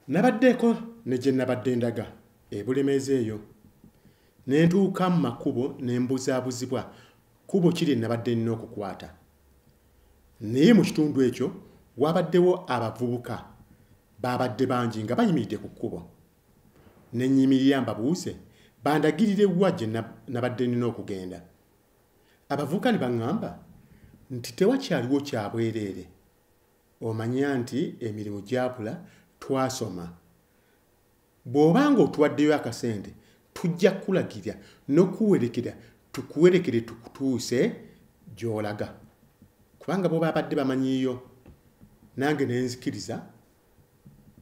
nabaddeeko ne gye nabadde ndaga ebulemeezi eyo ne ntuuka mu makubo ne mbuzaabuzibwa kubo kiri nabadde nnina okukwata naye mu kitundu ekyo wabaddewo abavubuka baabadde bangi nga bayimiridde ku kkubo ne nyimirira mbabuuze bandagirire wa gye nabadde nnina okugenda abavubuka ne baŋŋamba nti tewakyaliwo kyabwereere omanya nti emirimu gyakula twasoma bw'oba nga otuwaddeyo akasente tujja kukulagira n'okuwerekera tukuwerekere tukutuuse gy'olaga kubanga bo babadde bamanyiyo nange nenzikiriza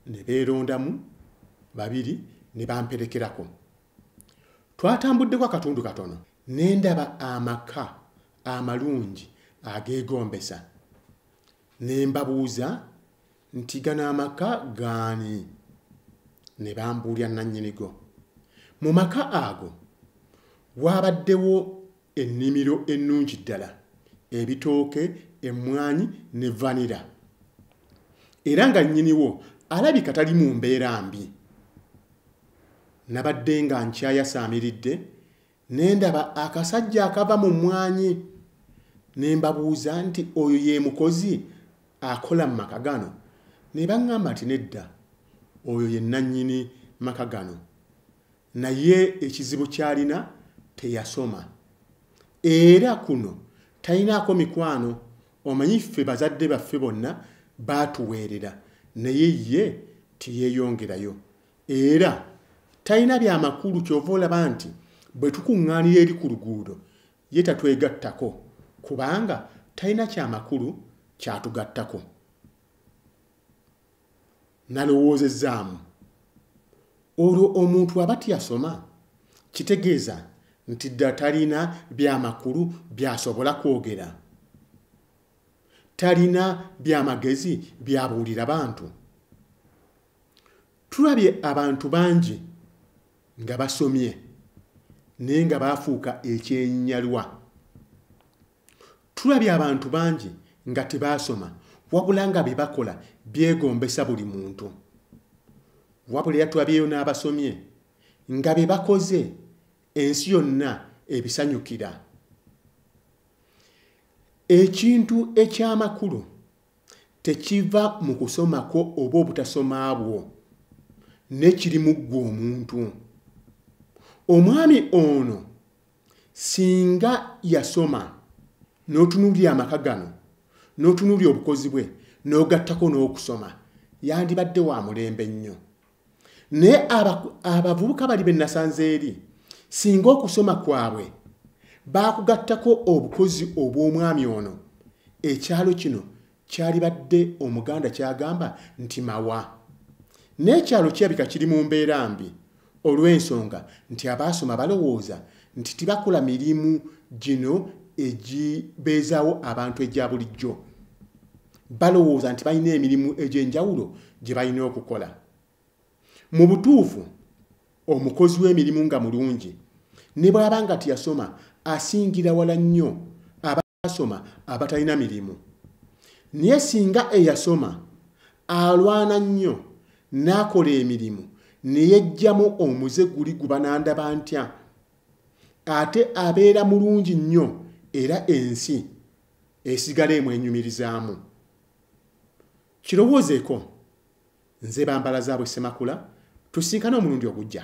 ne beerondamu babiri ne bamperekerako twatambuddeko akatundu katono ne ndaba amaka amalungi ageegombesa ne mbabuuza nti gano amaka gaani ne bambuulira nannyinigo mu maka ago waabaddewo ennimiro ennungi ddala ebitooke emmwanyi ne vanira era nga nnyiniwo alabika tali mu mbeera mbi nabadde nga nkyayasaamiridde ne ndaba akasajja akava mu mmwanyi ne mbabuuza nti oyo ye mukozi akola mu maka gano ne baŋŋamba nti nedda oyo ye nnannyini maka gano naye ekizibu ky'alina teyasoma era kuno talinaako mikwano omanyi ffe bazadde baffe bonna baatuweerera naye ye teyeeyongerayo era talina byamakulu kyova olaba nti bwe tukuŋŋaanira eri ku luguudo ye tatwegattako kubanga talina kyamakulu kyatugattako nalowoozezaamu olwo omuntu aba tiyasoma kitegeeza nti dda talina byamakulu byasobola kwogera talina byamagezi byabuulira bantu tulabye abantu bangi nga basomye naye nga baafuuka ekyenyalwa tulabye abantu bangi nga tebaasoma wabula nga bye bakola byegombesa buli muntu wabula era tulabyeyo n'abasomye nga bye bakoze ensi yonna ebisanyukira ekintu eky'amakulu tekiva mu kusoma kwo oba obutasoma bwo nekiri mu ggwe omuntu omwami ono singa yasoma n'otunuulira amaka gano n'otunuulira obukozi bwe n'ogattako n'okusoma yandibadde wa mulembe nnyo naye abavubuka bali be nasanze eri singa okusoma kwabwe baakugattako obukozi obw'omwami ono ekyalo kino kyalibadde omuganda kyagamba nti mawa n'ekyalo kirabika kiri mu mbeera mbi olw'ensonga nti abaasoma balowooza nti tibakola mirimu gino egibeezaawo abantu egya bulijjo balowooza nti balina emirimu egy'enjawulo gye balina okukola mu butuufu omukozi w'emirimu nga mulungi ne bw'aba nga teyasoma asingira wala nnyo abasoma abatalina mirimu naye singa eyasoma alwana nnyo n'akola emirimu ne yejjamu omuze guli gubanandaba ntya ate abeera mulungi nnyo era ensi esigala emwenyumirizaamu kirowoozeeko nze bambala zaabwe ssemakula tusinkane omulundi ogujja